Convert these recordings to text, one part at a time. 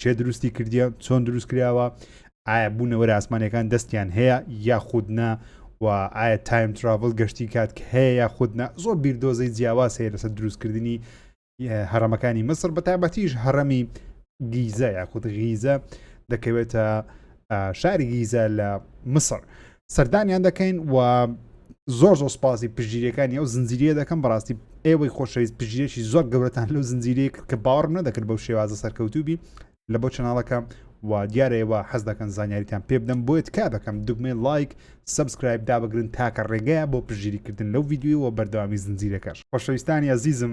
چێ دروستی کردیە چۆن دروست کراوە ئایا بوونەوەرە ئاسمانەکان دەستیان هەیە یا خودنا و ئایا تایم تراڤل گەشتی کات کە هەیە یا خودنا زۆر بیردۆزەی جیاواز هەیە لەسەر دروستکردنی هەرەمەکانی مسر بە تابەتیش هەڕەمی گیزە یاخود غیزە دەکەوێتە شاری گیزە لە مسر. سەردانیان دەکەین و زۆر زۆر سپاسی پژیرەکانی ئەو زنجیرە دەکەم بەڕاستی ئێوەی خۆشەویست پژیرێکی زۆر گەورەتان لەو زنجیرە کرد کە باوەڕم نەدەکرد بەو شێوازە سەرکەوتوبی لە بۆ چناڵەکە و دیارەوە حەز دەکەن زانیاریتان پێ بدەم بۆیە تکا دەکەم دگمەی لایک سبسکرایب دابگرن تاکە ڕێگەیە بۆ پژیریکردن لەو یددیوەوە بەردەوامی زنجیرەکەش خۆشەویستانی ئازیزم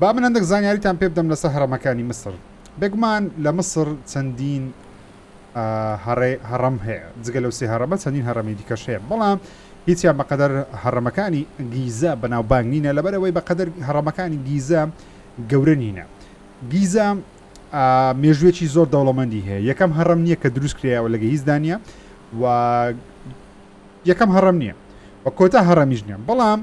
با من هەندێک زانیاریتان پێ بدەم لەسەر هەڕەمەکانی میسر. بێگومان لە میسر چەندین هەڕێ هەڕەم هەیە، جگە لەو سێ هەڕەمە چەندین هەڕەمی دیکەش هەیە، بەڵام هیچیان بەقەدەر هەڕەمەکانی گیزە بەناوبانگ نینە، لەبەرەوەی بەقەدەر هەڕەمەکانی گیزە گەورە نینە. گیزە مێژوویەکی زۆر دەوڵەمەندی هەیە، یەکەم هەڕەم نییە کە دروست کرایەوە لە گەهیزدا نییە و یەکەم هەڕەم نییە و کۆتا هەڕەمیش نییە، بەڵام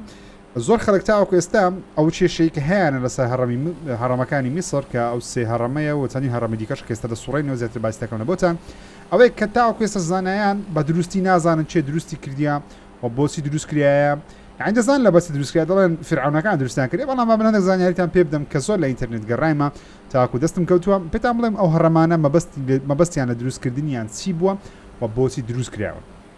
زۆر خەلک تاوەکو ئێستا ئەو کێشەی کە هەیانە لەسەر هەڕەمی هەڕەمەکانی میسر کە ئەو سێ هەڕەمەیە و چەندین هەڕەمی دیکەش کە ئێستا دەسوڕێنەوە زیاتر باسی دەکەمەوە بۆتان ئەوەی کە تاوەکو ئێستا زانایان بە دروستی نازانن چێ دروستی کردیە و بۆچی دروست کریایە یعنی دەزان لە بەسی دروست کرد دەڵێن فرعونەکان دروستیان کرد بەڵام با بنەدە زانیاریتان پێ بدەم کە زۆر لە ئینتەرنێت گەڕایمە تاکو دەستم کەوتووە پێتان بڵێم ئەو هەڕەمانە مەبەست مەبەستیان لە دروستکردنیان چی بووە و بۆچی دروست کراوە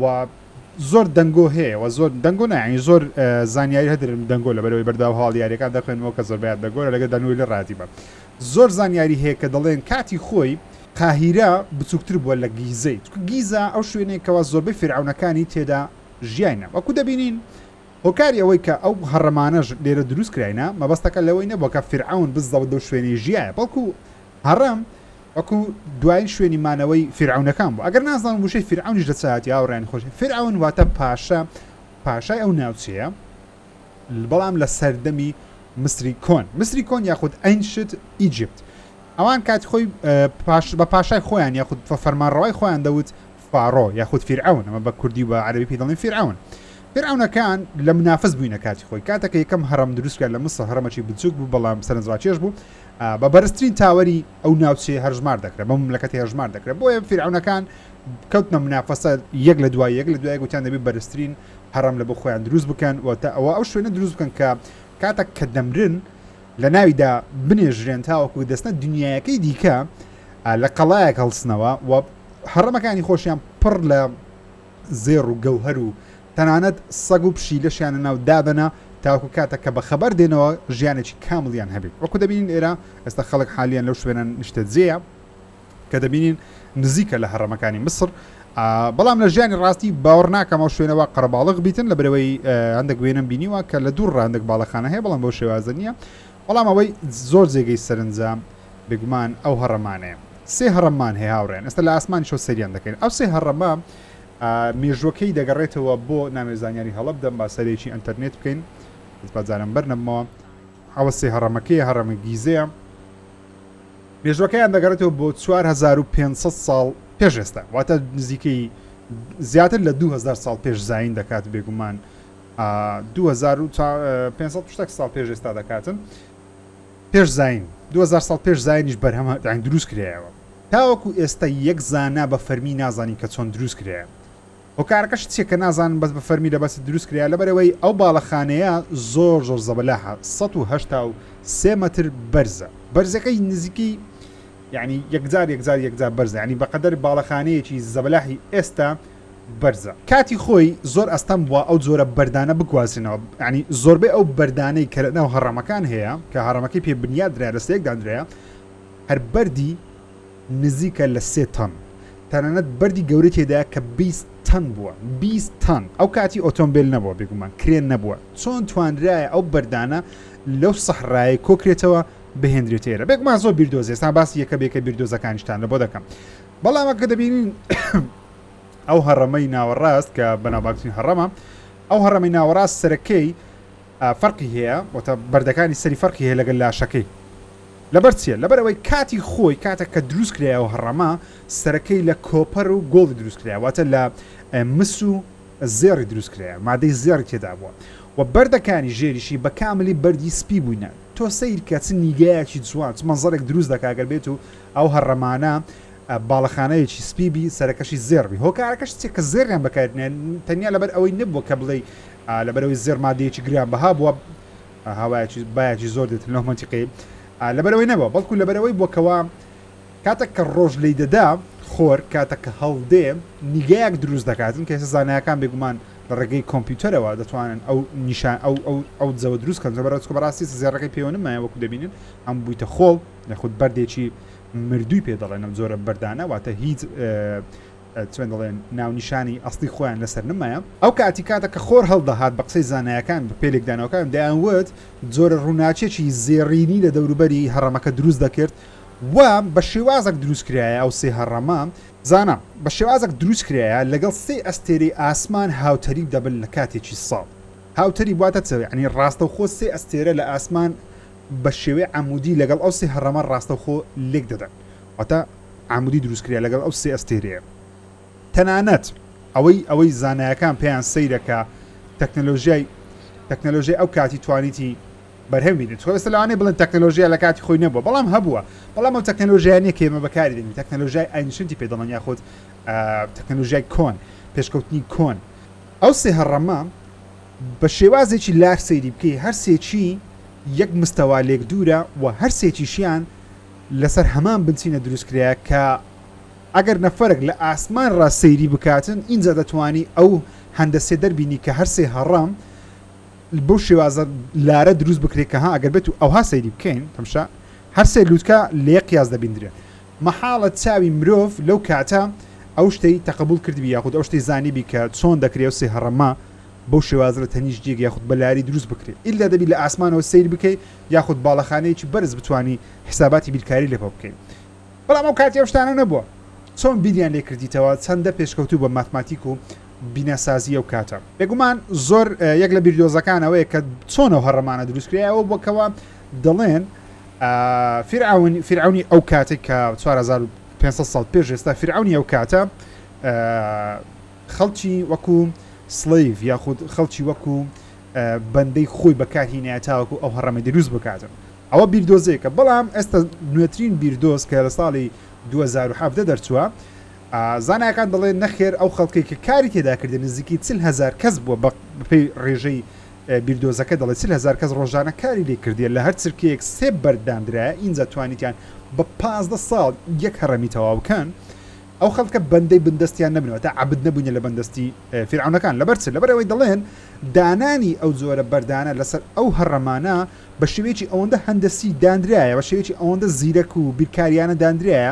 و زۆر دەنگۆ هەیە و زۆر دەنگۆ نا یانی زۆر زانیاری هەدرم دەنگۆ لە بەرەوەی بەرداو هەواڵ یاریەکان دەخوێنەوە کە زۆر بەیان دەگۆرە لەگە دانوی لە ڕاتی بە زۆر زانیاری هەیە کە دەڵێن کاتی خۆی قاهیرە بچووکتر بووە لە گیزەی چکە گیزە ئەو شوێنێک کەوا زۆربەی فرعونەکانی تێدا ژیاینە وەکو دەبینین هۆکاری ئەوەی کە ئەو هەڕەمانەش لێرە دروست کراینە مەبەستەکە لەوەی نەبووکە فرعون بزەوت دەو شوێنی ژیایە بەڵکو هەڕەم وەکو دوایین شوێنی مانەوەی فیرعەونەکان بوو ئەگەر نازانم وشەی فیرعەونیش لە چاتی هاوڕێیان خۆش فیرعەون واتە پاشا پاشای ئەو ناوچەیە بەڵام لە سەردەمی مصری کۆن مصری کۆن یاخود ئەینشت ئیجیپت ئەوان کات خۆی بە پاشای خۆیان یاخود فەرمانڕەوای خۆیان دەوت فاڕۆ یاخود فیرعەون ئەمە بە کوردی و بە عەرەبی پێی دەڵێن فیرعەون فیرعەونەکان لە منافس بووینە کاتی خۆی کاتەکە یەکەم هەڕەم دروستکرد لە مسڵ هەرمەکی بچوک بوو بەڵام سەرنجڕاکێش بوو بە بەرزترین تاوەری ئەو ناوچێ هەرژمار دەکرێت بە مملەکەتی هەژمار دەکرێت بۆیە فیرعەونەکان کەوتنە منافسە یەک لە دوای یەک لە دوای گوتیان دەبێت بەرزترین هەڕەم لە بۆ خۆیان دروست بکەن و تا ئەوە ئەو شوێنە دروست بکەن کە کاتە کە دەمرن لە ناویدا بنێژرێن تاوەکو دەستە دنیایەکەی دیکە لە قەڵایەک هەڵسنەوە و هەڕەمەکانی خۆشیان پڕ لە زێڕ و گەوهەر و تەنانەت سەگ و پشی لەشیانە ناو دابەنا تاکو کاتە کە بە خەبەر دێنەوە ژیانێکی کاملیان هەبێت وەکو دەبینین ئێرە ئێستا خەڵک حالیان لەو شوێنە نیشتە جێە کە دەبینین نزیکە لە هەڕەمەکانی مسر بەڵام لە ژیانی ڕاستی باوەڕ ناکەمەوە شوێنەوە قەرباڵغ بیتن لە برەوەی هەندێک وێنم بینیوە کە لە دوور ڕاندێک باڵەخانە هەیە بەڵام بۆ شێوازە نییە بەڵام ئەوەی زۆر جێگەی سەرنجە بێگومان ئەو هەڕەمانەیە. سێ هەڕەممان هەیە هاوڕێیان، ئێستا لە ئاسمانیشەوە سەیریان دەکەین. ئەو سێ هەڕەمە مێژووەکەی دەگەڕێتەوە بۆ، نامەوێ زانیاری هەڵە بدەم، با سەیرێکی ئەنتەرنێت بکەین، بەس با جاران بەر نەبمەوە. ئەوە سێ هەڕەمەکەیە، هەڕەمی گیزەیە. مێژووەکەیان دەگەڕێتەوە بۆ چوار هەزار و پێنج سەد ساڵ پێش ئێستا، واتە نزیکەی زیاتر لە دوو هەزار ساڵ پێش زایین دەکات بێگومان. دوو هەزار و پێنج سەد شتەک ساڵ پێش ئێستا دەکاتن پێش زین دوهزار ساڵ پێش زینیش بەرهەمە داین دروست کرایەوە تاوەکو ئێستا یەک زانا بە فەرمی نازانین کە چۆن دروست کرایە هۆکارەکەش چیە کە نازانن بەس بە فەرمی لە بەسی دروست کرا لەبەرەوەی ئەو باڵەخانەیە زۆر زۆر زەبەلاح 1970 متر بەرزە بەرزەکەی نزیکی یعنی یەکجار یەکجار یەکجار بەرز ینی بەقەدەر باڵەخانەیەکی زەبلاحی ئێستا بەرزە. کاتی خۆی زۆر ئەستەم بووە ئەو جۆرە بەردانە بگوازرێنەوە، یانی زۆربەی ئەو بەردانەی کە لەناو هەڕەمەکان هەیە کە هەڕەمەکەی پێ بنیات درایە لە سێک دانرایە هەر بەردی نزیکە لە سێ تەن تەنانەت بەردی گەورەی تێدایە کە 20 تەن بووە 20 تەن ئەو کاتی ئۆتۆمبیل نەبووە بێگومان کرێن نەبووە چۆن توانرایە ئەو بەردانە لەو سەحرایە کۆکرێتەوە بهێندرێت ئێرە بێگومان زۆر بیردۆزێستان باسی یەکە بێکە بیردۆزەکانیشتان لە بۆ دەکەم بەڵام کە دەبینین ئەو هەڕەمەی ناوەڕاست کە بەناوبانگترین هەڕەمە ئەو هەڕەمەی ناوەڕاست سەرەکەی فەرقی هەیە وەتە بەردەکانی سەری فەرقی هەیە لەگەل لاشەکەی لەبەر چیە لەبەر ئەوەی کاتی خۆی کاتە کە دروست کرای و هەڕەما سەرەکەی لە کۆپەر و گۆڵی دروست کرای واتە لە مس و زێڕی دروست کرای مادەی زێڕی تێدا بووە و بەردەکانی ژێریشی بە کاملی بەردی سپی بووینە تۆ سیرکە چ نیگایەکی جوان چ منزەرێک دروست دەکاگەر بێت و ئەو هەڕەمانە باڵەخانەیەکی سپی بی سەرەکەشی زێڕ بی هۆکارەکەش چیە کە زێڕیان بەکار دنێ تەنیا لەبەر ئەوەی نەبووە کە بڵێ لەبەرەوەی زێڕ مادەیەکی گران بەها بووە هاوایەکی بایەکی زۆر دێت لەو منتیقی لەبەرەوەی نەبووە بەڵکو لەبەرەوەی بووکەوە کاتێک کە ڕۆژ لی دەدا خۆر کاتە کە هەڵدێ نیگایەک دروست دەکاتن کە زانایەکان بێگومان لە ڕێگەی کۆمپیوتەرەوە دەتوانن ئەو نیشان ئەو ئەو ئەو جەوە دروست کەن زە بەرەوە بەڕاستی زێڕەکەی پێوەنمایە وەکو دەبینن ئەم بوویتە خۆڵ یاخود بەردێکی مردووی پێ دەڵێن ئەم جۆرە بەردانە واتە هیچ چۆن دەڵێن ناونیشانی ئەستی خۆیان لەسەر نمایە ئەو کاتی کاتە کە خۆر هەڵدەهات بە قسەی زانایەکان بە پێلێکدانەوەکان دەیانوت جۆرە ڕووناچێکی زێڕینی لە دەوروبەری هەڕەمەکە دروست دەکرد و بە شێوازەک دروست کرایە ئەو سێ هەڕەمە زانە بە شێوازەک دروست کرایە لەگەڵ سێ ئەستێری ئاسمان هاوتەریب دەبن لە کاتێکی ساڵ هاوتەری واتە چەوێ ئەنی ڕاستەوخۆ سێ ئەستێرە لە ئاسمان بە شێوەی عەمودی لەگەڵ ئەو سێ هەڕەمە ڕاستەوخۆ لێک دەدەن واتە عەمودی دروست کریا لەگەڵ ئەو سێ ئەستێرەیە تەنانەت ئەوەی ئەوەی زانایەکان پێیان سەیرە کە تەکنەلۆژیای تەکنەلۆژیای ئەو کاتی توانیتی بەرهەم بینێت خۆ ئێستا لەوانەیە بڵێن تەکنەلۆژیا لە کاتی خۆی نەبووە بەڵام هەبووە بەڵام ئەو تەکنەلۆژیا نیە کە ئێمە بەکاری دێنین تەکنەلۆژیای ئاینشنتی پێ دەڵێن یاخود تەکنەلۆژیای کۆن پێشکەوتنی کۆن ئەو سێ هەڕەمە بە شێوازێکی لار سەیری بکەی هەر سێکی یەک مستەوا لێک دوورە و هەر سێکیشیان لەسەر هەمان بنچینە دروست کرایە کە ئەگەر نەفەرێک لە ئاسمان ڕا سەیری بکاتن ئینجا دەتوانی ئەو هەندەسێ دەربینی کە هەر سێ هەڕەم بەو شێوازە لارە دروست بکرێت کە ها ئەگەر بێت و ئەوها سەیری بکەین تەمشا هەر سێ لووتکە لە یەک قیاس دەبیندرێن مەحاڵە چاوی مرۆڤ لەو کاتە ئەو شتەی تەقەبوڵ کردبی یاخود ئەو شتەی زانیبی کە چۆن دەکرێ ئەو سێ هەڕەمە بەو شێوازە لە تەنیشت جێگە یاخود بە لاری دروست بکرێ ئیلا دەبی لە ئاسمانەوە سەیر بکەی یاخود باڵەخانەیەکی بەرز بتوانی حیساباتی بیرکاری لەپە بکەی بەڵام ئەو کاتی ئەو شتانە نەبوە چۆن بیریان لێ کردیتەوە چەندە پێشکەوتوو بە ماتماتیک و بینا سازی ئەو کاتە. بێگومان زۆر یەک لە بیردۆزەکان ئەوەیە کە چۆن ئەو هەڕەمانە دروست کرێ ئەوە بوە کەوا دەڵێن فیرعەون فیرعەونی ئەو کاتێک کە 4500 ساڵ پێش ئێستا فیرعەونی ئەو کاتە خەڵکی وەکو سلیڤ یاخود خەڵکی وەکو بەندەی خۆی بەکارهینایە تاوەکو ئەو هەڕەمە دروست بکاتن ئەوە بیردۆزێکە بەڵام ئێستا نوێترین بیردۆز کە لە ساڵی 2017 دەرچووە زانایەکان دەڵێن نەخێر ئەو خەڵکی کە کاری تێداکردن نزیکی چل هزار کەس بووە بە پێی ڕێژەی بیردۆزەکە دەڵێت چل هەزار کەس ڕۆژانە کاری لێ کردیە، لە هەر چرکەیەک سێ بەرد داندرایە، ئینجا توانیتیان بە پازدە ساڵ یەک هەڕەمی تەواو بکەن. ئەو خەڵکە بەندەی بندەستیان نەبن، واتە عەبد نەبوونە لە بندەستی فیرعەونەکان. لەبەر چ؟ لەبەر ئەوەی دەڵێن دانانی ئەو جۆرە بەردانە لەسەر ئەو هەڕەمانە بە شێوەیەکی ئەوەندە هەندەسی داندرایە، بە شێوەیەکی ئەوەندە زیرەک و بیرکاریانە داندرایە،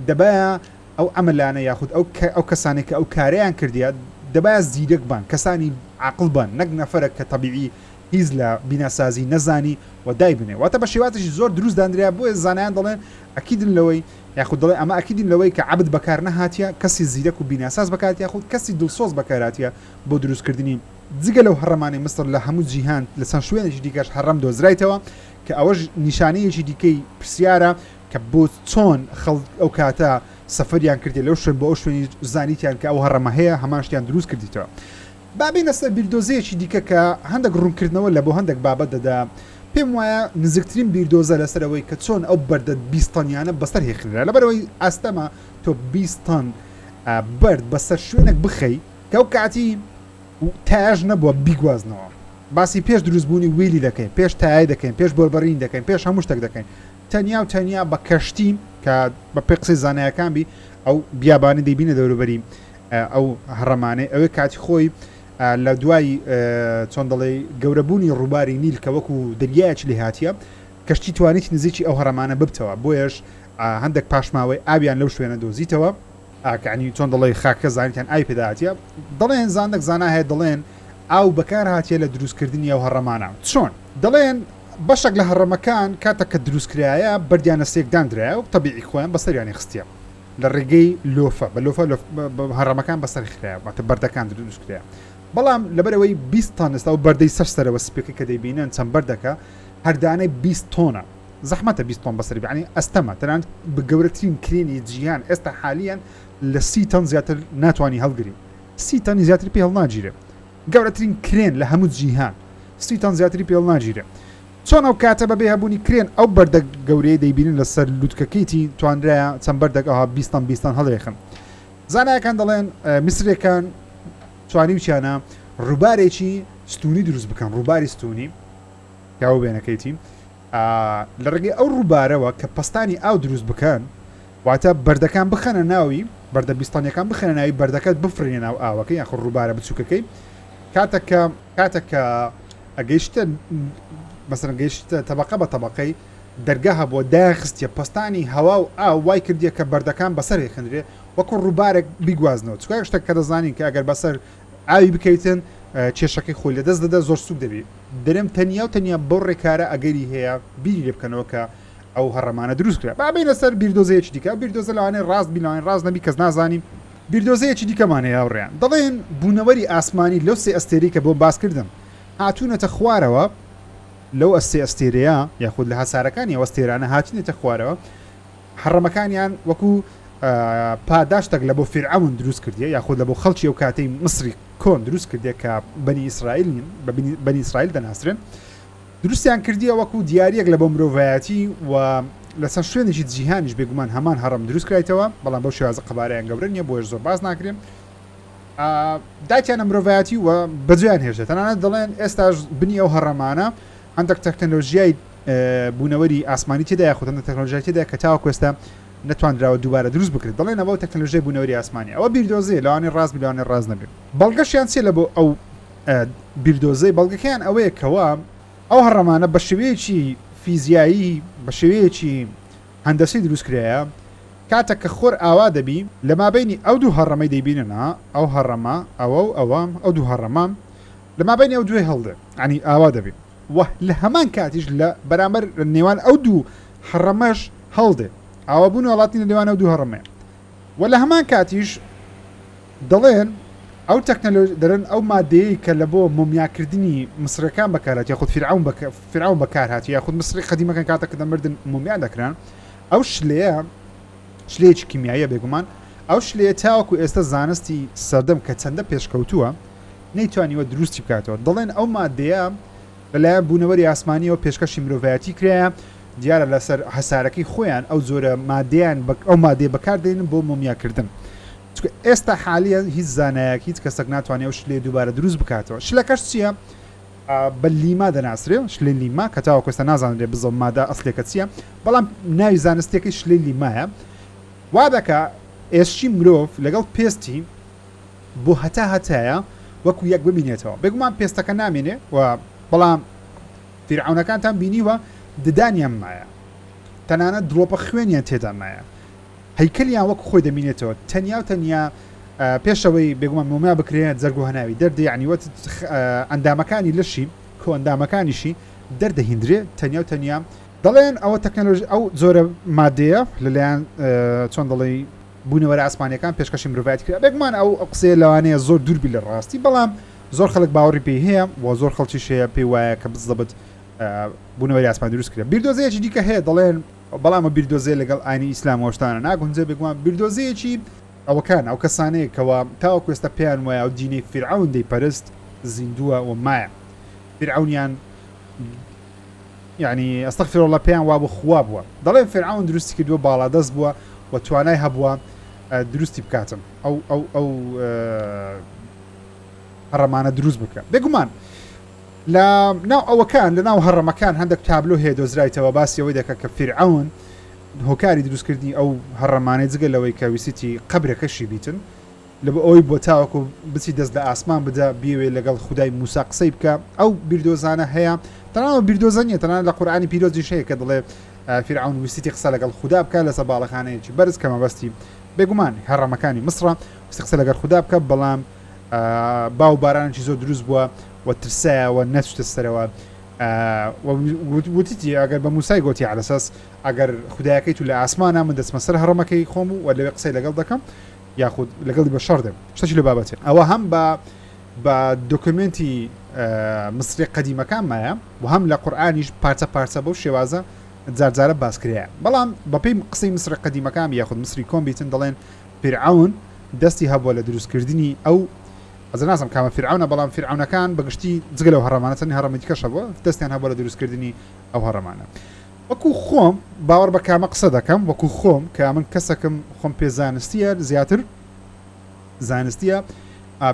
دەبایە ئەو عەمەلانە یاخود ئەو ئەو کەسانەی کە ئەو کارەیان کردیە دەبایە زیرەک بن کەسانی عاقڵ بن نەک نەفەرەک کە تەبیعی هیچ لە بیناسازی نەزانی و دایبنێ واتە بە شێوازێکی زۆر دروست دانرا بۆیە زانایان دەڵێن ئەکیدن لەوەی یاخود دەڵێ ئەمە ئەکیدین لەوەی کە عەبد بەکار نەهاتیە کەسی زیرەک و بیناساز بەکات یاخود کەسی دڵسۆز بەکاراتیە بۆ دروستکردنی جگە لەو هەڕەمانەی میسر لە هەموو جیهان لە چەند شوێنێکی دیکەش هەڕەم دۆزرایتەوە کە ئەوەش نیشانەیەکی دیکەی پرسیارە کە بۆ چۆن خەڵک ئەو کاتە سەفەریان کردی لەو شوێن بۆ ئەو شوێنی زانیتیان کە ئەو هەڕەمە هەیە هەمان شتیان دروست کردیتەوە بابی نەسەر بیردۆزەیەکی دیکە کە هەندێک ڕوونکردنەوە لە بۆ هەندێک بابەت دەدا پێم وایە نزیکترین بیردۆزە لەسەرەوەی کە چۆن ئەو بەردە بیستانیانە بەسەر هێخنرا لەبەرەوەی ئاستەمە تۆ بیستان بەرد بەسەر شوێنێک بخەی کە ئەو کاتی تاژ نەبووە بیگوازنەوە باسی پێش دروستبوونی ویلی دەکەین پێش تای دەکەین پێش بۆربڕین دەکەین پێش هەموو شتێک دەکەین تەنیا و تەنیا بە کەشتی کە بە پێ قسەی زانایەکان بی ئەو بیابانی دەیبینە دەوروبەری ئەو هەڕەمانەی ئەوێ کاتی خۆی لە دوای چۆن دەڵێ گەورەبوونی ڕووباری نیل کە وەکو دەریایەکی لێ هااتە کەشتی توانیت نزیکی ئەو هەڕەمانە ببتەوە بۆیش هەندێک پاشماوەی ئاویان لەو شوێنە دۆزیتەوە ئاکا عنی چۆن دەڵێی خاکەکە زانیتان ئاوی پێدا هاتیە دەڵێن زانەک زانا هەیە دەڵێن ئاو بەکار هاتیە لە دروستکردنی ئەو هەڕەمانە چۆن دەڵێن بەشێک لە هەڕەمەکان کاتە کە دروستکرایە بەردیانە سێکداندرایە و تەبیعی خۆیان بەسەریانی خستە لە ڕێگەی لۆفە بە لۆفە هەڕەمەکان بەسەر خراە باتە بەردەکان دروستکرا بەڵام لەبەرەوەی 20 تانستا و بەردەی سەر سەرەوە سپێکی کە دەیبینن چەند بەردەکە هەردانەی 20 تۆنە زەحمەتە بیست تۆن بەسەری بێنی ئەستەمە تەنانەت بە گەورەترین کرێنی جیهان ئێستا حالیەن لە سی تەن زیاتر ناتوانی هەڵگری سی تەنی زیاتر پێ هەڵناگیرێ گەورەترین کرێن لە هەموو جیهان سی تەن زیاتری پێ هەڵناگیرێ چۆن ئەو کاتە بەبێ هەبوونی کرێن ئەو بەردە گەورەیە دەیبینن لەسەر لوتکەکەیتی توانرایە چەند بەردەک ئەوها بیستان بیستان هەڵێخن زانایەکان دەڵێن میسرەکان توانیوچیانە ڕووبارێکی ستونی دروست بکەن ڕووباری ستونی پیاوە بێنەکەیتی لە ڕێگەی ئەو ڕووبارەوە کە پەستانی ئاو دروست بکەن واتە بەردەکان بخەنە ناوی بەردە بیستانیەکان بخەنە ناوی بەردەکەت بفرێنە ناو ئاوەکە یاخ ڕووبارە بچووکەکەی کاتەکە کاتەکە ئەگەیشتە مەسەن گەیشتە تەبقە بە تەبقەی دەرگا هەبووە داخستە پستانی هەوا و ئا وای کردیە کە بەردەکان بەسەر هێخنرێ وەکو ڕووبارێک بیگوازنەوە چکای شتێک کە دەزانین کە ئەگەر بەسەر ئاوی بکەویتن کێشەکەی خۆی لەدەست دەدا زۆر سوک دەبی برم تەنیا و تەنیا بەو ڕێکارە ئەگەری هەیە بیری لێ بکەنەوە کە ئەو هەڕەمانە دروست کرا با بینە سەر بیردۆزەیەکی دیکە ئەو بیردۆزە لەوانەیە ڕاست بی لەوانەیە ڕاست نەبی کەس نازانین بیردۆزەیەکی دیکەمان هەیە هاوڕێیان دەڵێن بوونەوەری ئاسمانی لەو سێ ئەستێرەی کە بۆم باس کردم هاتوونەتە خوارەوە لەو ئەستێ ئەستێرەیە یاخود لە هەسارەکانی ئەو ئەستێرانە هاتوونەتە خوارەوە هەڕەمەکانیان وەکو پاداشتەک لە بۆ فیرعەون دروست کردیە یاخود لە بۆ خەڵکی ئەو کاتەی مصری کۆن دروست کردێک کە بەنی ئیسرائیل نین بەنی ئیسرائیل دەناسرێن دروستیان کردیە وەکو دیارەک لە بۆ مرۆڤایەتی و لەسەر شوێنێکی جیهانیش بێگومان هەمان هەڕم دروست کرایتەوە بەڵام بۆ شێوازە قەبارەیان گەورە نیە بۆش زۆر باز ناکرێن داکیانە مرۆڤایەتی و بەجیان هێشتە تەنانەت دەڵێن ئێستاش بنی ئەو هەڕەمانە هەندێک تەکنەلۆژیای بوونەوەری ئاسمانی تێدا یاخود هەندێک تەکنەلۆژیای تێدایە کە تاوەکو ئێستا نەتواندراوە دووبارە دروست بکرێت دەڵێن ئەوە تەکنەلۆژیای بوونەوەری ئاسمانیە ئەوە بیردۆزەیە لەوانەیە ڕاست بێ لەوانەیە ڕاست نەبێ بەڵگەشیان چیە لە بۆ ئەو بیردۆزەی بەڵگەکەیان ئەوەیە کەوا ئەو هەڕەمانە بە شێوەیەکی فیزیایی بە شێوەیەکی هەندەسی دروست کرایە کاتە کە خۆر ئاوا دەبی لە مابینی ئەو دوو هەڕەمەی دەیبیننا ئەو هەڕەمە ئەوە و ئەوە ئەو دوو هەڕەمە لە مابینی ئەو دوێ هەڵدێ عنی ئاوا دەبی و لە هەمان کاتیش لە بەرامبەر نێوان ئەو دوو هەڕەمەش هەڵدێ ئاوا بوون وڵاتی لە نێوان ئەو دوو هەڕەمەیە و لە هەمان کاتیش دەڵێن ئەو تەکنەلۆژ دەرن ئەو مادەیە کە لە بۆ مۆمیاکردنی مسرەکان بەکارات یاخود فرعون بە فرعون بەکارهات یاخود مسری قدیمەکان کاتە کە دەمردن مۆمیا دەکران ئەو شلەیە شلەیەکی کیمیاییە بێگومان ئەو شلەیە تاوەکو ئێستا زانستی سەردەم کە چەندە پێشکەوتووە نەیتوانیوە دروستی بکاتەوە، دەڵێن ئەو ماددەیە لەلایەن بوونەوەری ئاسمانییەوە پێشکەشی مرۆڤایەتی کرایە، دیارە لەسەر هەسارەکەی خۆیان ئەو جۆرە ماددەیان ئەو ماددەیە بەکاردێنن بۆ مۆمیاکردن، چونکە ئێستا حالیەن هیچ زانایەک هیچ کەسەک ناتوانێت ئەو شلەیە دووبارە دروست بکاتەوە، شلەکەش چییە؟ بە لیما دەناسرێت، شلەی لیما، کە تاوەکو ئێستا نازانرێت بزە ماددە ئەسڵیەکە چییە، بەڵام ناوی زانستییەکەی شلەی لیمایە، وادەکات ئێسکی مرۆڤ لەگەڵ پێستی. بۆ هەتا هەتایە وەکو یەک بمینێتەوە بێگومان پێستەکە نامێنێ و بەڵام فیرعەونەکانتان بینیوە ددانیان مایە تەنانەت دڵۆپە خوێنیان تێدا مایە هەیکەلیان وەکو خۆی دەمینێتەوە تەنیا و تەنیا پێشەوەی بێگومان مۆمیا بکرێت جەرگ و هەناوی دەردێ عنیوەت ئەندامەکانی لەشی کۆئەندامەکانیشی دەردەهیندرێ تەنیا و تەنیا دەڵێن ئەوە تەکنەلۆژی ئەو جۆرە مادەیە لەلایەن چۆن دەڵێی بوونەوەرە ئاسمانیەکان پێشکەشی مرۆڤایەتی کرا بێگومان ئەو قسەیە لەوانەیە زۆر دوور بی لە ڕاستی بەڵام زۆر خەلک باوەڕی پێی هەیە و زۆر خەڵکیش هەیە پێی وایە کە بززەبت بوونەوەری ئاسمان دروست کرا بیردۆزەیەکی دیکە هەیە دەڵێن بەڵام بیردۆزێ لەگەڵ ئاینی ئیسلام وەشتانە ناگونجێ بێگومان بیردۆزەیەکی ئەوەکان ئەو کەسانەیە کەەوە تاوەکو ئێستا پێیان وایە و دینەی فیرعەون دەیپەرست زیندووە و مایە فیرعەونیان یەعنی استغفر اللە پێیان وابوو خوا بووە دەڵێن فیرعەون دروستی کردووە باڵادەست بووە و توانای هەبووە دروستی بکاتن ئەو ئەو ئەو هەڕەمانە دروست بکە بێگومان لە ناو ئەوەکان لە ناو هەڕەمەکان هەندێک تابلۆ هەیە دۆزرایتەوە باسیەوەی دەکە کە فیرعون هۆکاری دروستکردنی ئەو هەڕەمانەی جگە لەوەی کە ویسیتی قبرەکەشی بیتن لەبە ئەوەی بوە تاوەکو بچی دەست لە ئاسمان بدە بیەوێ لەگەڵ خودای موسا قسەی بکە ئەو بیردۆزانە هەیە تەنها ئەو بیردۆزە نیە تەنها لە قورئانی پیرۆزیش هەیە کە دڵێ فیرعون ویستیتی قسە لەگەڵ خودا بکە لەسە باڵەخانەیەکی بەرز کە مەبەستی بێگومان هەڕەمەکانی مسڕە ویستی قسە لەگەڵ خودا بکە بەڵام باو بارانێکی زۆر دروست بووە و ترسایەوە نەچتە سەرەوە وتیتی ئەگەر بە موسای گۆتی عەلەسەس ئەگەر خدایەکەی تو لە ئاسمانە من دەچمە سەر هەڕەمەکەی خۆم و لەوێ قسەی لەگەڵ دەکەم یاخود لەگەڵی بە شەڕ دێم شتەکی لە بابەتێ ئەوە هەم بە بە دۆکمنتی مصری قەدیمەکان مایە و هەم لە قورآانیش پارچە پارچە بەو شێوازە جارجارە باسکرەیە بەڵام بەپی قسەی مصر قەدیمەکان یاخود مصری کۆمبیتن دەڵێن پیرعون دەستی هەبووە لە دروستکردنی ئەو ئەزناسم کامە فرعونە بەڵام فرعونەکان بەگشتی جگە لەو هەڕەمانە چەنی هەڕەمەتیکەشە بووە دەستیان هەبووە لە دروستکردنی ئەو هەڕەمانە وەکو خۆم باوەڕ بە کامە قسە دەکەم وەکو خۆم کە من کەسەکم خۆم پێ زانستیە زیاتر زانستیە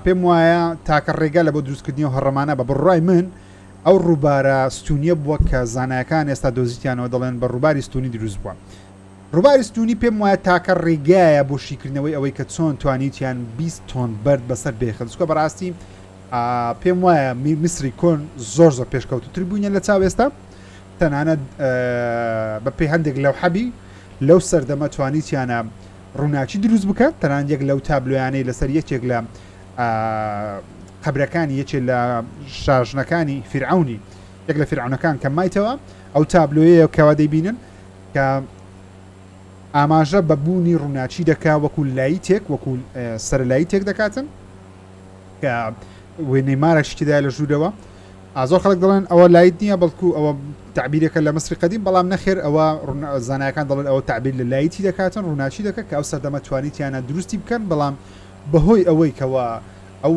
پێم وایە تاکە ڕێگا لە بۆ دروستکردنی و هەڕەمانە بە بڕای من ئەو ڕووبارە ستونیە بووە کە زانایەکان ئێستا دۆزیتیانەوە دەڵێن بە ڕووباری ستونی دروست بووە ڕووباری ستونی پێم وایە تاکە ڕێگایە بۆ شیکردنەوەی ئەوەی کە چۆن توانیوتیان 20 تۆن بەرد بەسەر بێخن چکە بەڕاستی پێم وایە میسری کۆن زۆر زۆر پێشکەوتتر بووینە لە چاوێستا تەنانەت بە پێی هەندێک لەوحەبی لەو سەردەمە توانیتیانە ڕووناکی دروست بکات تەنان یەک لەو تابلۆیانەی لەسەر یەکێک لە قبرەکانی یەکێ لە شاژنەکانی فرعونی یەک لە فرعونەکان کە مایتەوە ئەو تابلۆیە کەوا دەیبینن کە ئاماژە بە بوونی ڕووناچی دەکا وەکو لایتێک وەکو سەرلایی تێک دەکاتن وێ نەیمارە شتیدا لە ژوورەوە ئازۆ خەڵک دەڵێن ئەوە لایت نییە بەڵکو ئەوە تعبیرەکە لە مەسری قدیم بەڵام نەخێر ئەوە زانایەکان دەڵێن ئەوە تعبیر لە لایتی دەکاتن ڕووناچی دەکە کە ئەو سەردەمە توانیتیانە دروستی بکەن بەڵام بەهۆی ئەوەی کەەوە ئەو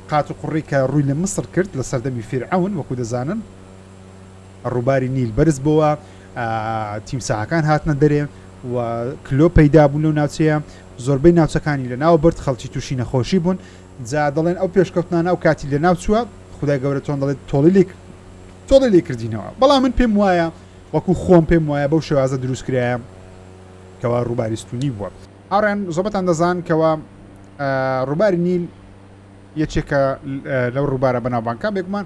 قات و قڕی کە ڕووی لە مسر کرد لە سەردەمی فیرعون وەکو دەزانن ڕووباری نیل بەرز بۆوە تیمساحەکان هاتنە دەرێ و کلۆ پەیدا بوو لەو ناوچەیە زۆربەی ناوچەکانی لە ناو برد خەڵکی تووشی نەخۆشی بوون جا دەڵێن ئەو پێشکەوتنانە ئەو کاتی لە ناوچووە خدای گەورە چۆن دەڵێت تۆڵی لێک تۆڵی لێ کردینەوە بەڵام من پێم وایە وەکو خۆم پێم وایە بەو شێوازە دروست کرایە کەوا ڕووباریستونی بووە ئاڕێن زۆبەتان دەزان کەوا ڕووباری نیل یەکێکە لەو ڕووبارە بەناوبانکە بێگومان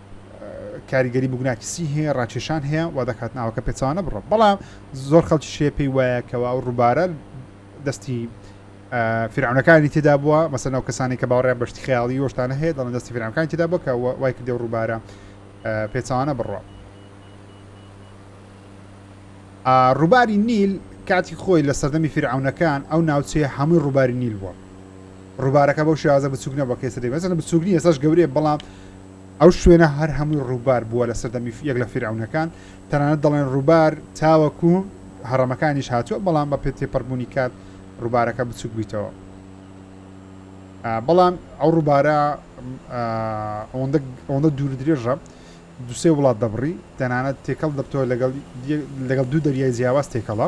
کاریگەری بگوناکیسی هەیە ڕاکێشان هەیە وا دەکات ناوەکە پێچوانە بڕە بەڵام زۆر خەڵکی شێ پێی وایە کەەوە ئەو ڕووبارە دەستی فرعونەکانی تێدا بووە مەسەن ئەو کەسانی کە باوەڕیان بەشتی خیاڵی وەشتانە هەیە دەڵێن دەستی فرعونەکانی تێدا بووە کە وای کردێ ڕووبارە پێچوانە بڕە ڕووباری نیل کاتی خۆی لە سەردەمی فرعونەکان ئەو ناوچەیە هەمووی ڕووباری نیل بووە ڕووبارەکە بەو شێوازە بچوک نەبەکەی سەدەی بەزن بچوک نیە سەش گەورەیە بەڵام ئەو شوێنە هەر هەمووی ڕووبار بووە لە سەردەمی یەک لە فیرعەونەکان، تەنانەت دەڵێن ڕووبار تاوەکو هەڕەمەکانیش هاتووە، بەڵام بە پێ تێپەڕبوونی کات ڕووبارەکە بچووک بوویتەوە. بەڵام ئەو ڕووبارە ئەوەندە دوور درێژە دوسێ وڵات دەبڕی، تەنانەت تێکەڵ دەبتەوە لەگەڵ دوو دەریای جیاواز تێکەڵە.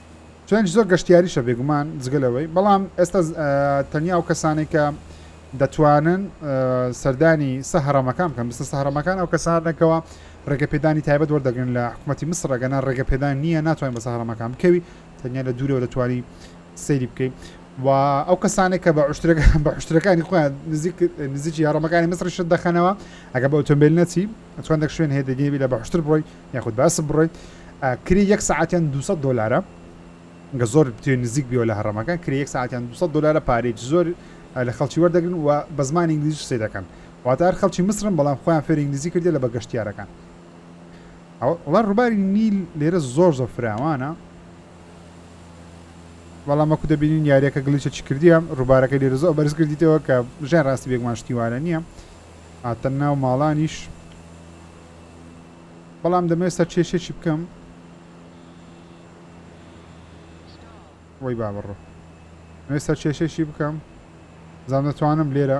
چونکی زۆر گەشتیاریشە بێگومان جگە لەوەی بەڵام ئێستا تەنیا ئەو کەسانەی کە دەتوانن سەردانی سە هەرەمەکان بکەن بسە سە هەرەمەکان ئەو کەسانەکەەوە ڕێگە پێدانی تایبەت وەردەگرن لە حکوومەتتی مسرەگەنا ڕێگە پێدان نییە ناتوانین بە سەهرەمەکان بکەوی تەنیا لە دوورەوە دەتوانی سەیری بکەیت و ئەو کەسانێک کە بە عشتەکان بە عشتەکانی خۆیان نزیک نزیکی هەڕەمەکانی مسرشت دەخەنەوە ئەگە بە ئۆتۆمبیل نەچی ئەتوان دەک شوێن هەیە دەگەی بیلە بەحشتر بڕۆی یاخود بەسە بڕۆی کری یەک ساعتیان 200 دلارە گە زۆر بتێ نزیک بیەوە لە هەڕەمەکە کری یەک ساعتیان 200 دلارە پارێک زۆر لە خەڵکی وەردەگرن و بە زمان ئینگلیزیش سێ دەکەن واتار خەڵکی مسرم بەڵام خۆیان فێر ئینگلیزی کردێ لە بەگەشتیارەکان ئەوڵە ڕووباری نیل لێرە زۆر زۆر فراوانە بەڵام وەکو دەبینین یاریەکە گلیچە چی کردیە ڕووبارەکە لێرە زۆر بەرز کردیتەوە کە ژێن ڕاستی بێگمان شتیوارە نییە هاتە ناو ماڵانیش بەڵام دەمەوێت سەرچێشێکی بکەم وەی با بڕۆ نوێ سەرچێشێکی بکەم زان دەتوانم لێرە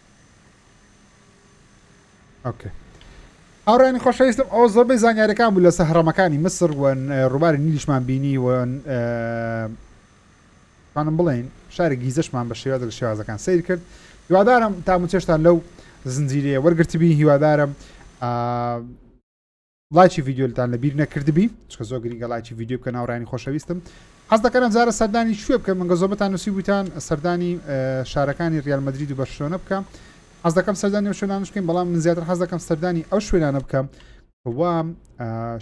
هاوڕێنی خۆشەویستم ئەو زۆربەی زانیارەکان بوو لەسەر هەڕەمەکانی مسر و ڕووباری نیلیشمان بینی و خانم بڵێن شاری گیزشمان بە شێوازە لە شێوازەکان سیر کرد هیوادارم تاموچێشتان لەو زنجیرەیە وەرگرتبی هیوادارم لایکی ڤیددیولتان لە بیر نەکردبی چکە زۆ گرنگە لایکی ڤیددیو بکە ناوڕانی خۆشەویستم حەز دەکەم زارە سەردانی شوێ بکەم منگە زۆبتان نووسی بوتان سەردانی شارەکانی ریال مدرید و بەرشلۆنە بکەم حەز دەکەم سەردانی و شوێنانش بکەین بەڵام من زیاتر حەز دەکەم سەردانی ئەو شوێنانە بکەم وام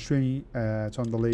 شوێنی چۆن دەڵێ